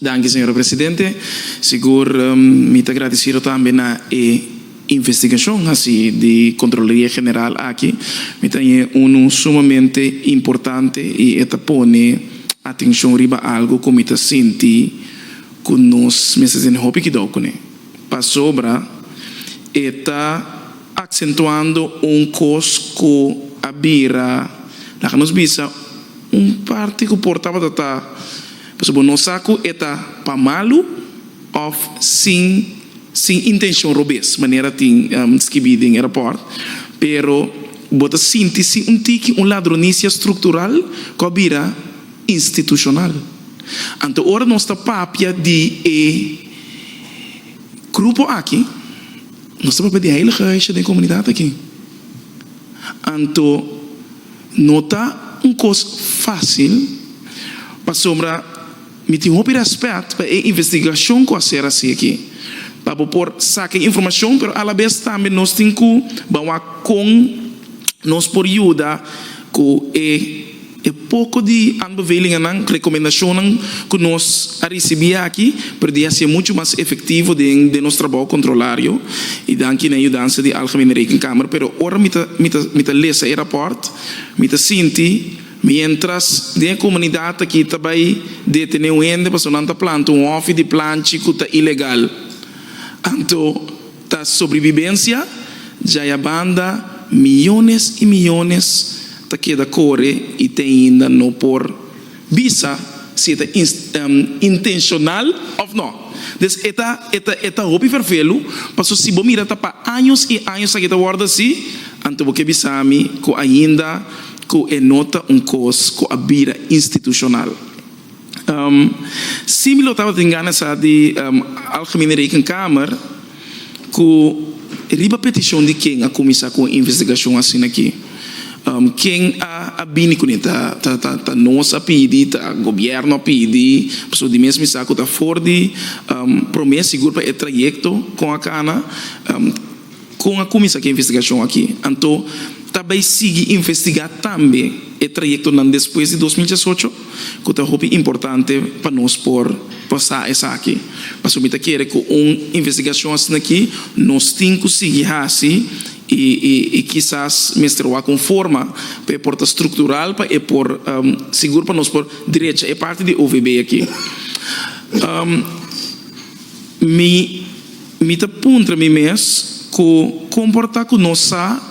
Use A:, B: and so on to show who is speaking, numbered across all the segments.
A: Danki señora presidente. Sigur mi ta agradecido tambe na e investigacion haci di Contraloria General aki. Mi ta haña unu sumamente importante y e ta pone atencion riba algo cu mi ta sinti cu nos mester tene hopi cuidao cune. Pasobra e ta acentuando un cos cu a bira, laga nos bisa, Un parti ku por tabata ta pasobra bo no sa ku e ta pa malu òf sin sin intenshon robes, manera tin skibí den e rapòrt. Pero bo ta sinti si un tiki un ladronisia struktural ku a bira institushonal. Anto ora nos ta papia di e grupo aki, nos ta papia di heiligheid den e komunidat aki. Anto. No ta un kos fásil, pasobra mi tin hopi rèspèt pa e investigashon ku a ser hasi aki, pa bo por saka e informashon, pero alabes tambe nos tin ku bawa kon nos por yuda ku e e poko di aanbevelingennan, rekomendashonnan, ku nos a risibí aki. Pero di hacié mucho mas efectivo den den nos trabao controlario y danki na yudansa di Algemene Rekenkamer. Pero ora mi ta mi ta mi ta lesa e rapport mi ta sinti mientras den e comunidad aki ta bay detene un hende pasobra nan ta planta un hofi di planchi cu ta ilegal anto ta sobrevivencia djay a banda millones y millones ta keda core y te ainda no por Bisa si e ta intenshonal òf nò. Des e ta e ta e ta hopi ferfelu, paso si bo mira ta pa años i años aki ta wòrdu así, anto bo ke bisa mi ku ainda ku e no ta un kos ku a bira institushonal. Si mi lo tabatin gana sa di Algemene Rekenkamer. Cu riba peticion di ken a cuminsa cu un investigacion asina aki? Ken a bini cun'e? Ta nos a pidi? Ta gobierno a pidi? Pasobra di mes mi sa cu ta for di prome sigur pa e trayecto con a cana. Con a cuminsa cu e investigacion aki? Anto ta bay sigui investiga tambe e trayectonan despues di dos mil diesocho? ku ta hopi importante pa nos por pasa esaki. Pasobra mi ta kere ku un investigashon asin'akí nos tin ku sigui hasi i kisas mester wak un forma pa e por ta struktural pa e por sigur pa nos por direcha e parti di OVB akí. Mi mi ta puntra mi mes ku kon por ta ku nos sa.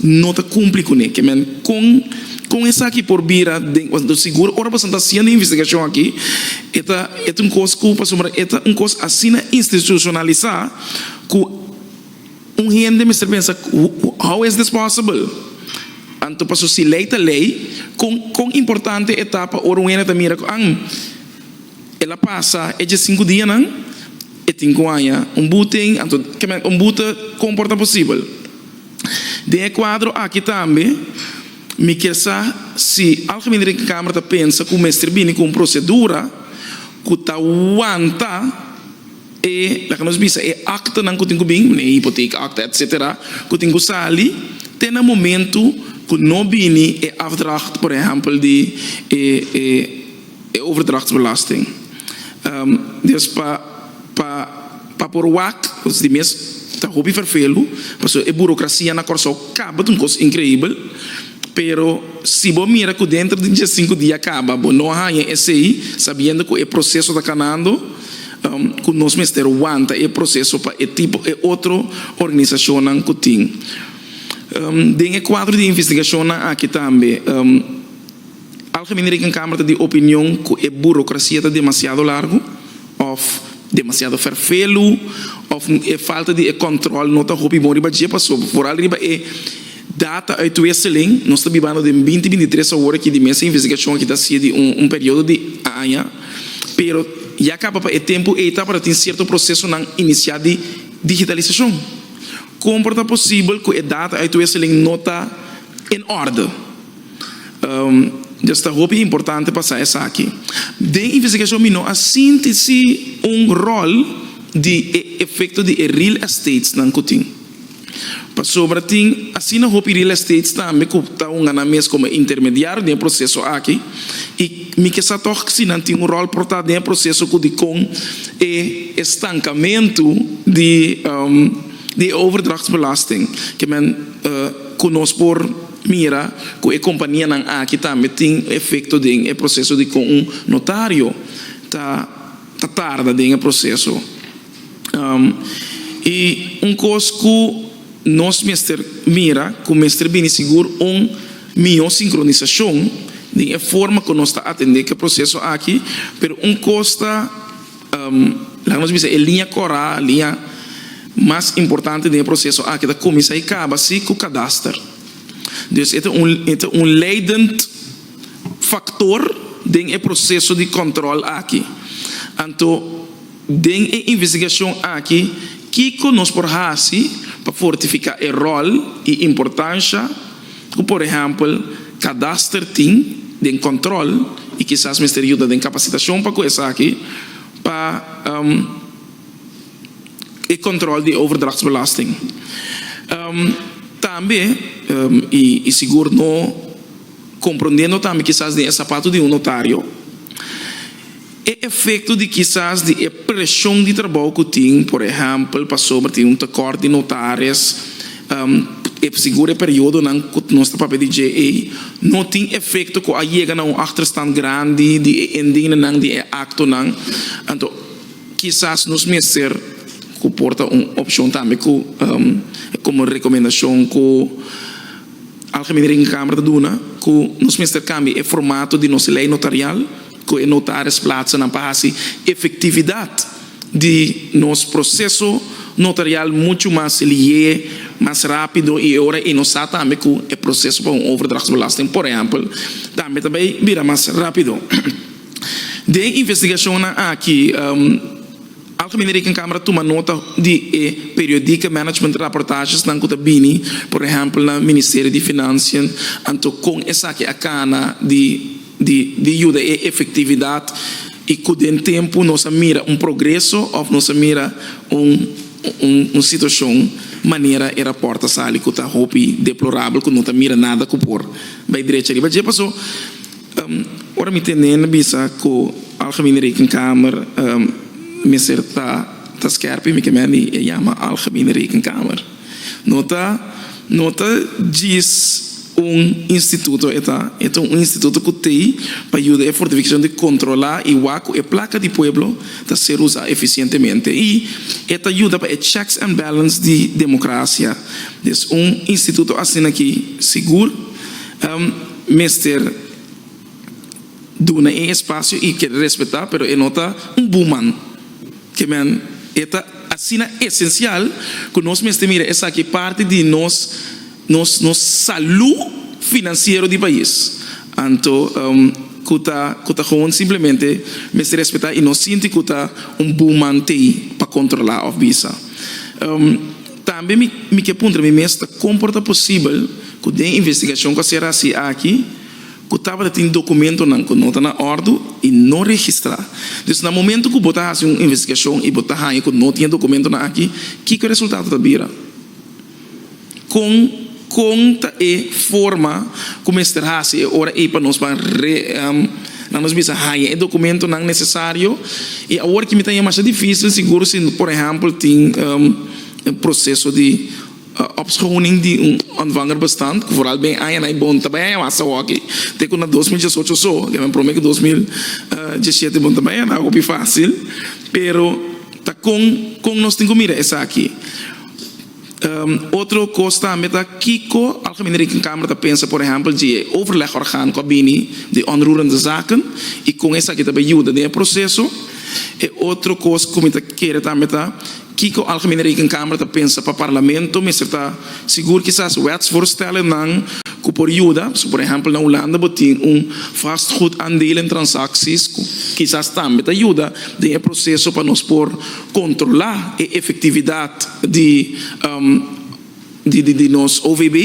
A: no ta cumpli cu ne. Kemen con con esaki por bira den os do sigur ora pasobra ta haciendo investigacion aki e ta e ta un cos cu pasobra e ta un cos asina institucionalisa cu un hende mester pensa how is this possible anto paso si ley ta ley con con importante e ta pa ora un hende ta mira cu am el a pasa e djasinku dianan e tin cu haya un buten anto kemen un bute con por ta posibel. Den e kuadro aki tambe mi kier sa si Algemene Rekenkamer ta pensa ku mester bini ku un prosedura ku ta wanta e, laga nos bisa e aktanan ku tin ku bin, e hipoteekakte etsetera, ku tin ku sali te na momentu ku no bini e afdracht, por ehèmpel di e. e overdrachtsbelasting. Dios pa pa pa por wak cos di mes ta hopi vervelu pasobra e burocracia na Corsou caba ta un cos increibel pero si bo mira cu dentro di dies sinku dia caba bo no a haya esey sabiendo cu e proceso ta canando cu nos mester wanta e proceso pa e tipo e otro organisacionnan cu tin den e cuadro di investigacionnan aki tambe. Algemene Rekenkamer ta di opinion ku e burokrasia ta demasiado largu òf demasiado ferfelu òf e falta di e kòntròl no ta hopi bon riba dje paso foral riba e data uitwisseling nos ta bibando den binti binti tres awor aki di mes e investigashon aki ta hasié di un periodo di aña pero ya kaba pa e tempu ei tabata tin sierto prosesonan inisiá di digitalisashon kon por ta posibel ku e data uitwisseling no ta en òrdu. Dje sta hopi importante pa sa esaki. Den investigashon mi no a sinti si un ròl di e efekto di e real estatenan ku tin. Pasobra tin asina hopi real estates tambe ku ta ungá nan mes komo e intermediario den e proseso aki i mi ke sa tòg si nan tin un ròl por ta den e proseso ku dikon e estankamentu di di e overdrachtsbelasting ke men ku nos por Mira cu e companianan aki tambe tin un efecto den e proceso di con un notario ta ta tarda den e proceso. Y un cos cu nos mester mira cu mester bini sigur un miho sincronisacion den e forma cu nos ta atende cu e proceso aki, pero un cos ta. Laga nos bisa e liña kòrá, liña mas importante den e proseso aki ta kuminsá i kaba si ku kadaster. Dus e ta un e ta un leidend faktor den e proseso di kòntròl aki. Anto den e investigashon aki kiko nos por hasi pa fortifiká e ròl i importansha ku por ehèmpel kadaster tin den kòntròl i kisas mester yuda den kapasitashon pa ku esaki pa e kòntròl di overdrachtsbelasting tambe i sigur no komprondendo tambe kisas den e sapatu di un notario. E efekto di kisas di e preshon di trabou ku tin, por ehèmpel pasobra tin un tekòrt di notares e sigur e periodonan ku nos ta papia di dje ei, no tin efekto ku a yega na un achterstand grandi di e indingnenan di e aktonan. Anto kisas nos mester ku por ta un opshon tambe ku komo rekomendashon ku Algemenering Kamera ta duna ku nos mester kambia e formato di nos lei notarial. cu e notaris plaatsenan pa haci efectividad di nos proceso notarial mucho mas seliee, mas rapido y e ora y nos sa tambe cu e proceso pa un overdrachtsbelasting, por ehempel, tambe ta bay bira mas rapido. Den investigacionnan aki, Algemene Rekenkamer a tuma nota di e periodieke management rapportagesnan cu ta bini, por ehempel, na Ministerio di Financiën, anto con esaki a cana di. di yuda e efektividat i ku den tempu nos a mira un progreso òf nos a mira un situashon manera e rapòrt a sali ku ta hopi deplorabel ku no ta mira nada ku por bai drecha riba dje. Pasó ora mi tene nan bisa ku Algemene Rekenkamer mester ta skerp i mi ke mende yama Algemene Rekenkamer. No ta no ta djis un instituto e ta, e ta un instituto cu tey pa yuda e fortificacion di controla y wak cu e placa di pueblo ta ser usa eficientemente y e ta yuda pa e checks and balance di democracia. Des un instituto asina ki sigur mester. duna e espacio y kere respeta pero e no ta un buman ke men e ta asina esencial ku nos mester mira esaki parti di nos nos nos salu financiero di pais anto ku ta ku ta gewoon simplemente mester respeta y no sinti ku ta un buman tey pa controla of bisa tambe mi mi ke puntra mi mes ta como por ta posibel ku den investigacion ku a sera asi aki. ku tabata tin dokumentonan ku no ta na òrdu i no registrá. Dus na momentu ku bo ta hasi un investigashon i bo ta haña ku no tin e dokumentonan aki, kiko e resultado ta bira? Kon kon ta e forma ku mester hasi e ora ei pa nos pan re, nan nos bisa, haña e dokumentonan nesesario? I awor ki mi ta haña masha difísil sigur si por ehèmpel tin proseso di. Opschoning di un ontvanger bestand, ku vooral ben aña na e bon ta bai aña wak sa hockey, te ku na dos mil diesocho so, ke men promé ku dos mil diesshete bon ta bai aña, ta hopi fásil, pero ta kon kon nos tin ku mira esaki. Otro kos tambe ta kiko Algemene Rekenkamer ta pensa por ehèmpel dje overlegorgaan ku a bini di Onroerende Zaken i kon esaki ta bai yuda den e proseso. E otro kos ku mi ta kere tambe ta. Kiko Algemene Rekenkamer ta pensa pa Parlamento mester ta sigur? Kisas wetsvoorstellennan ku por yuda, so por ehèmpel na Hulanda bo tin un vastgoedaandeel en transakties ku kisas tambe ta yuda den e proseso pa nos por kontrolá e efektividat di di nos OVB,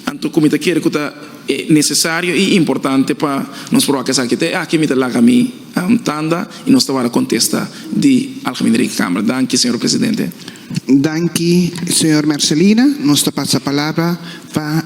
A: anto ku mi ta kere ku ta nesesario i importante pa nos proba ku esaki. Te aki mi ta laga mi tanda i nos ta wara kontesta di Algemene Rekenkamer. Danki, señor presidente.
B: Danki, señor Mercilina. Nos ta pasa palabra pa.